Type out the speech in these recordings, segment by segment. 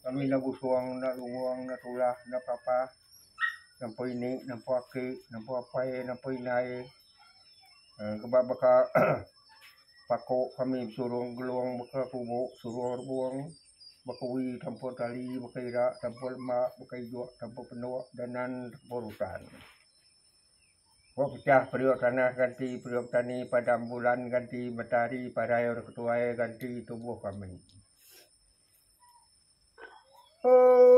Kami enda busung enda lungung enda tulah enda papah nempa ini nempa aki nempa apai nempa indai keba baka pako kami besurung gelong baka kubo surung rebong baka uwi tanpa tali baka ira tanpa lema baka ijok tanpa pendok danan tanpa rutan. Ba pecah periuk tanah ganti periuk petani padam bulan ganti matahari parai orang ketuai ganti tubuh kami. Oh,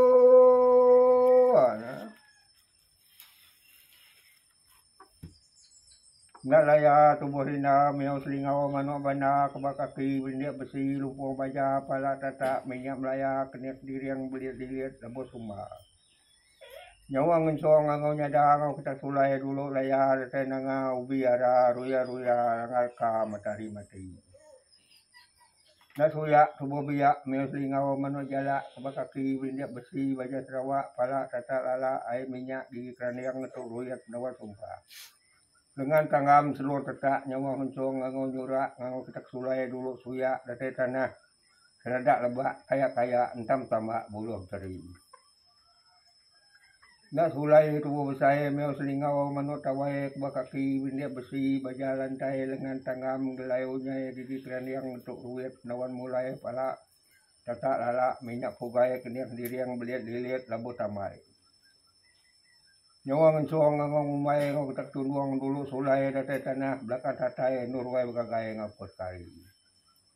ana. Ndak laya tubuh rinda miau selingau manuk banda keba kaki belindik besi lumpung baja pala tatak minyak melaya kenik diring belit-dilit lebuh sumba. Nyawa ngensong anggau nyada anggau ketak sulai dulu laya datai nanga ubi ara ruya-ruya langar ka matahari mati. Enda suyak tubuh biak meh selingau meno jalak ke ba kaki berindik besi ba jah Sarawak pala tatak lala ai minyak gigi keranding netuk ruyet endawa sumpa. Lengan tanggam selur tetak nyawa ngensong anggau nyurak anggau ketak sulai dulu suyak datai tanah. Keladak lebak kaya-kaya entam tambak buluh teri. Enda sulai tubuh besai meh selingau manuk tawai keba kaki bendek besi baja lantai lengan tanggam gelai unyai gigi keranding entuk ruit nawan mulai pala tatak lala minyak pugai kening diring belit lilit labuh tambai. Nyawa ngensung ango ngumbai enggau ketak tundung dulu sulai datai tanah belakang tatai endur wai begagai enggau pekari.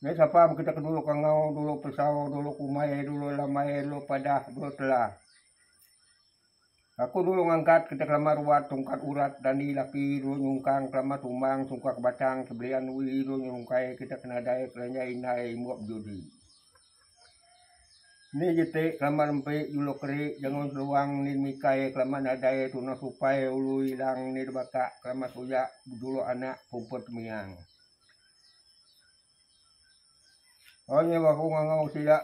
Nya sapa meh kita ke dulu kangau, dulu pesau, dulu kumai, dulu lambai, dulu padah, dulu tela. Aku dulu ngangkat kita kelama ruat tungkat urat dandi laki dulu nyungkang kelama tumbang sungkah ke batang sebelian dui dulu nyungkai kita ke nadai kelanjai indai imbok bejudi. Ni jeti kelama nempi juluk keri jengun seluang ni mikai kelama nadai tunang supai ulu ilang ni debakak kelama suyak bejuluk anak pumpuh temiang. Oi nyau aku ngangau sida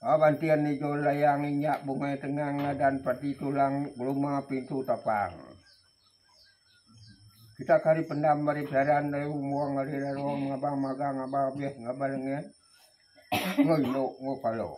Aban tian ijo layang inyak bungai tengang ngadan pati tulang geluma pintu tapang. Kita kari pendam mari pesaran dari umuang hari laluang ngabang magang ngabang abis ngabang lengan. Ngoi no ngopalo.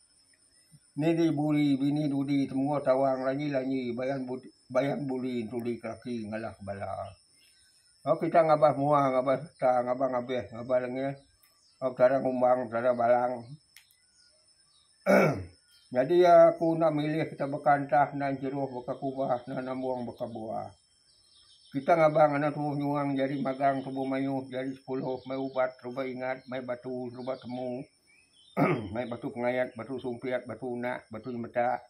Nili buri bini dudi temua tawang lanyi-lanyi bayan buri entuli ke laki ngalah ke bala. Tau kita ngabas mua ngabas serta ngabas ngabih ngabas lengih tau tara ngumbang tara balang emm nyadi aku enda milih kita baka entah nan jeruh baka kubah nan ambung baka buah. Kita ngabang anak tuuh nyuang jari magang tubuh mayuh jari sepuluh mai ubat serba ingat mai batu serba temu. mai batu pengayat, batu sumpit, batu unak, batu nyemeta,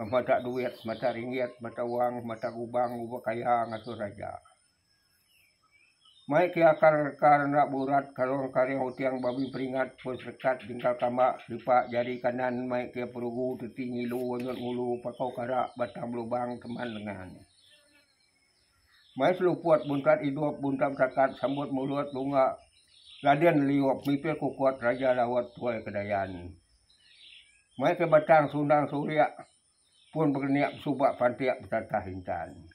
mata duit, mata ringgit, mata wang, mata gubang, uba kaya ngasuh raja. Mai ke akar reka enda burat, karung karing uting babi peringat, pun serekat, jengkal kamba, selipak, jari kanan, mai ke perugu, teti ngilu, onyot ngulu, pakau kara, batang belubang, teman lengan. Mai seluput buntat idup buntat betakat sambut mulut lunga Raden Liup mipih kukut Raja Laut tuai ke Dayan. Mai ke batang sundang surik pun berenik besuba pantik betatah intan.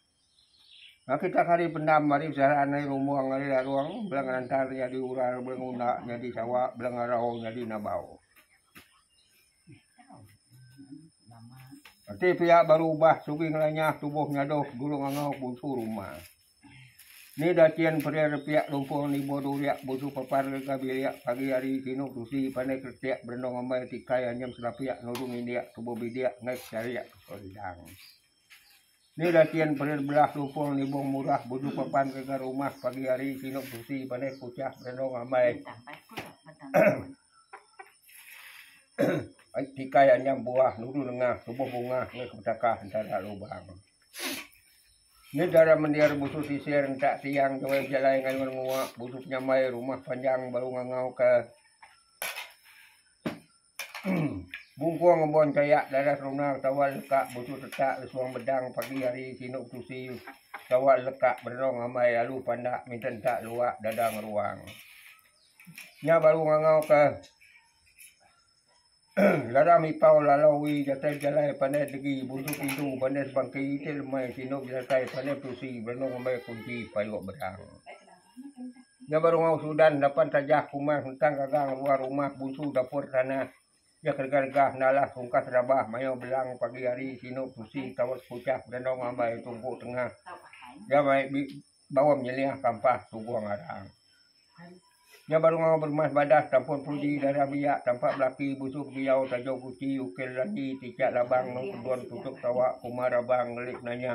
Ngah kitak hari pendam ari Zaran ari Rumong ari Larong bela ngerantar nyadi ural bela nguna nyadi sawa bela ngarau nyadi nabau. Enti pia baru ubah sugi ngelanyah tubuh nyadoh dulung angau bunsu rumah. Ni dachin peri repiak lumpung nibo duriak bunsu papar ngaga bilik pagi hari sinu tusi pandai kretek berenung ambai tikai anyam selapik nurung indik tubuh bidik ngai secharik ke sorang. Ni latian perit belah lupong nibong murah buju papan ngagai rumah pagi hari sinu beresi pandai kuchah berenong amai ai tikai anyam buah nuru nengah tubuh bungah enggau kebetakas entara lubang. Ni chara mendir busu sisir entak tiang jawai bejalai ngayun nguak busu penyamai rumah panjang baru ngangau ka. Bungkong ngembuan kayak dadah seruna tawa leka busu tetak lesuang bedang pagi hari sinu betusi tawa leka bererong amai alu pandak minta enta luak dadah ngeruang. Nya baru ngangau ke Lara Mipau Lalau Wee Jatai Bejalai Pandai Degi Buntu Pintu Bandai Sebangki Itik Lemai Sinu Bejatai Pandai Betusi Berenong Amai Kunti Payuk Bedang. Nya baru ngau Sudan lapan tajah kumang hentang gagang luar rumah bunsu dapur tanah iya ke regah-regah nalah rungkas rabah mayau belang pagi hari sinu tusi tawak sekuchah bedandau ngambai tungku tengah iya mai bawa menyeliah kampah tugung arang. Nya baru ngau beremas badas tampun pudi darah biak tampak belaki bunsu beguyau tajau guti ukir landi tichak labang nang kedun tutup tawak kuma rabang ngelik nanya.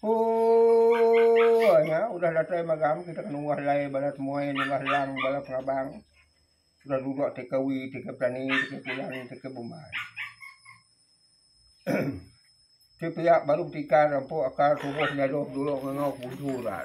Ooh nya udah datai magam kita kena unggah lai bala temuai unggah lang bala pengabang udah dudok ti ke wee ti ke petani ti ke pulang ti ke bumbai. Ti pia baru betikar empuk akar tubuh nyadoh dulu ngangau ke busu ra.